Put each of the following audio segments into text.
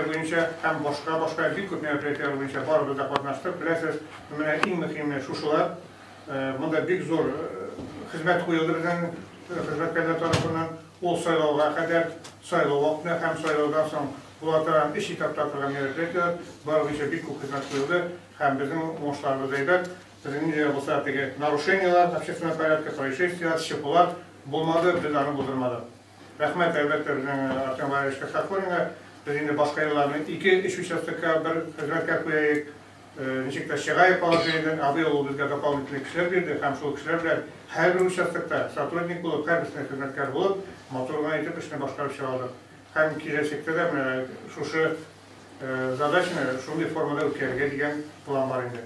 буенча һәм башка-башка бик күп мероприятиеләр буенча барыбыз да катнаштык. Беләсез, менә иң мөһиме шушылар. Монда бик зур хезмәт куелды безнең хезмәткәрләр тарафыннан. Ул сайлауга кадәр, сайлау вакытында һәм сайлаудан соң була торган өч этапта торган мероприятиеләр, бар буенча бик күп хезмәт куелды һәм безнең уңышларыбыз әйбәт. Безнең нинди дә булса теге нарушениеләр, общественный порядка, происшествиеләр, чпулар булмады, без аны булдырмадык. Рәхмәт, әлбәттә, безнең Артем Валерьевич Касакуринга. Без инде башка елларны ике, өч участокка бер хезмәткәр куяйк, ничек тә чыгаек положениедән. А быел ул безгә дополнительный кешеләр бирде һәм шул кешеләр белән һәрбер участокта сотрудник булып, һәрберсенә хезмәткәр булып, матур гына итеп эшне башкарып чыга алдык. Һәм киләчәктә дә менә шушы задачаны шундый формада үткәрергә дигән план бар инде.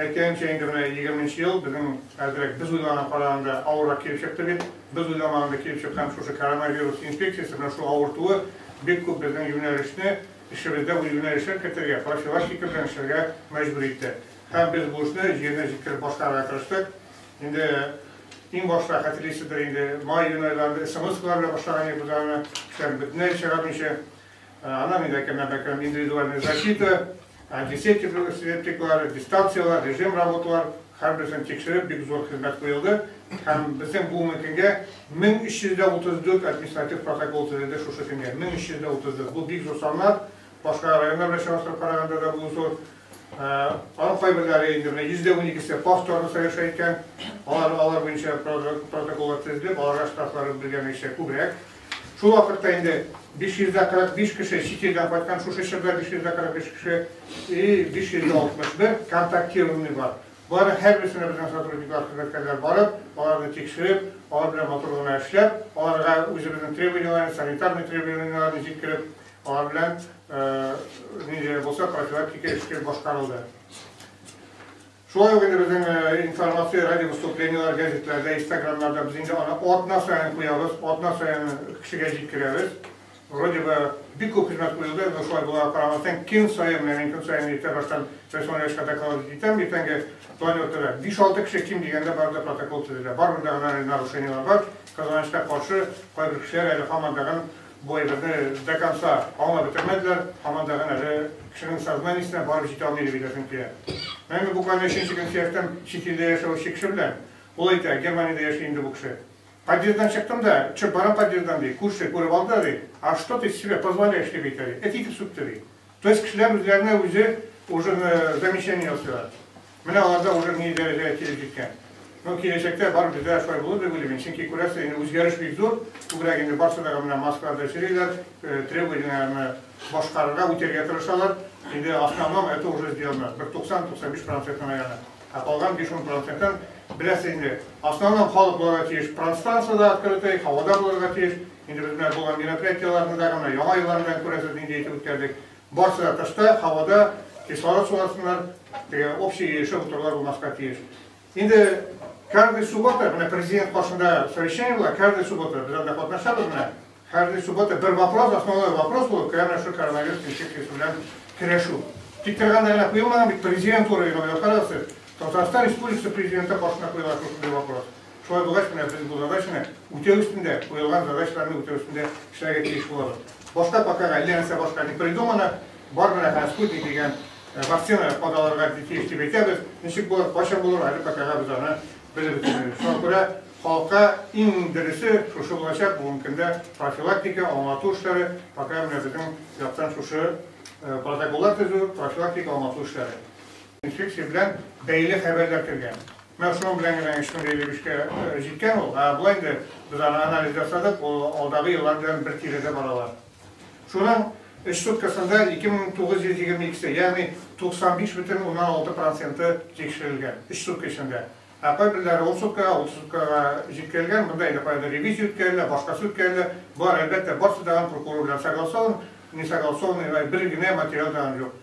Әйткәнемчә, инде менә егерме нче ел безнең әзрәк, без уйлаганга караганда авыррак килеп чыкты бит. Без уйламаганда килеп чыккан шушы коронавирус инфекциясе, менә шул авыртуы бик күп безнең юнәлешне, эшебездә үз юнәлешен кертергә, профилактика белән эшләргә мәҗбүр итте. Һәм без бу эшне җиренә җиткереп башкарырга тырыштык. Инде иң башта, хәтерлисездер инде, май-июнь айларында смс-калар белән башлаган идек без аны, кешеләрне бөтенләй чыгармыйча. Аннан инде әкренләп-әкренләп индивидуальная защита, антисептиклар, септиклар, дистанцияләр, режим работалар, һәрберсен тикшереп, бик зур хезмәт куелды. Һәм безнең бу мөмкингә 1334 административ протокол төзелде шушы көнгә. 1334. Бу бик зур саннар. Башка районнар белән чагыштырып караганда да бу зур. Аның кайберләре инде менә 100 дә уникесе повторно соверша иткән. Алар алар буенча протоколлар төзелеп, аларга штрафлары билгеләнмичә күбрәк. Шул вакытта инде 545 кеше чит илдән кайткан, шушы чорда 545 кеше и 561 контактированный бар. Боларның һәрберсенә безнең сотрудниклар, хезмәткәрләр барып, аларны тикшереп, алар белән матур гына эшләп, аларга үзебезнең требованиеләрне, санитарный требованиеләрне җиткереп, Алар белән нинди дә булса профилактика эше башкарылды. Шулай ук инде безнең информация, радио выступлениелар, газетларда, инстаграмнарда без инде аны атна саен куябыз, атна саен кешегә җиткерәбез. Вроде бы бик күп хезмәт куелды, но шулай була карамастан, көн саен, мин көн саен иртә баштан рәсми рәвешкә докладывать итәм, иртәнге план йортыда. 5-6 кеше ким дигәндә барда протокол төзелә. Барында гына нарушениелар бар, казаныштан каршы кайбер кешеләр әле һаман тагын Бу әйберне до конца аңлап бетермәделәр, һаман да гына әле кешенең сознаниесенә барып җитә алмый дип әйтәсем килә. Менә мин буквально өченче көн сөяктән чит илдә яшәүче кеше белән, ул әйтә, Германиядә яши инде бу кеше. Подъезддан чыктым да, төшеп барам подъезддан, ди, күрше күреп алды, ди, А что ты себе позволяешь, дип әйтә, ди, эт итеп сүкте, ди. То есть кешеләр үзләренә үзе уже замечание ясыйлар. Менә аларда уже ни дәрәҗәгә килеп җиткән. Ну, киләчәктә бар бездә дә шулай булыр дип уйлыйм мин, чөнки күрәсез, инде үзгәреш бик зур, күбрәк инде барсы да менә маскаларда йөриләр, требованиеләрне башкарырга, үтәргә тырышалар. Инде основном это уже сделано, бер 90-95 процентын наверное. Ә калган биш-ун процентын, беләсез инде, основном халык булырга тиеш пространство да открытый, һавада булырга тиеш. Инде без менә булган мероприятиеләрне дә, менә Яңа елларны да күрәсез, нинди итеп үткәрдек. Барсы да тышта, һавада кислород суласыннар, теге общий ирешә утырулар булмаска тиеш. Инде каждый суббота, менә президент каршында совещание була, каждый суббота без анда катнашабыз менә. Каждый суббота бер вопрос, основной вопрос булып керә менә шул коронавирус инфекциясе белән көрәшү. Тик торганда гына куелмаган бит президент уровеньга карагыз сез. Татарстан Республикасы президенты каршына куела шушындый вопрос. Шулай булгач, менә без бу задачаны үтәү өстендә, куелган задачаларны үтәү өстендә эшләргә тиеш булабыз. Башка пока әллә нәрсә башка не придумано, бар менә хәзер спутник дигән вакцина кадаларга тиеш дип әйтәбез. Ничек булыр, кайчан булыр, әле покага без аны белеп бетермибез. Шуңа күрә халыкка иң дөресе шушы булачак, бүгенге көндә профилактика, аңлату эшләре, пока менә безнең яктан шушы протоколлар төзү, профилактика, аңлату эшләре. Инфекция белән бәйле хәбәрләр кергән. Менә шуның белән генә Ишмур Галиевичка җиткән ул. Ә болай инде без аны анализ ясадык, ул алдагы еллар белән бер тирәдә баралар. Шуның өч суткасында 2922-се, ягъни 95 бөтен уннан алты проценты тикшерелгән, өч сутка эчендә. Ә кайберләре ун суткага, утыз суткага җиткерелгән, монда инде каядыр ревизия үткәрелә, башкасы үткәрелә. Болар, әлбәттә, барсы да прокурор белән согласован, не согласованный, бер генә материал да аны юк.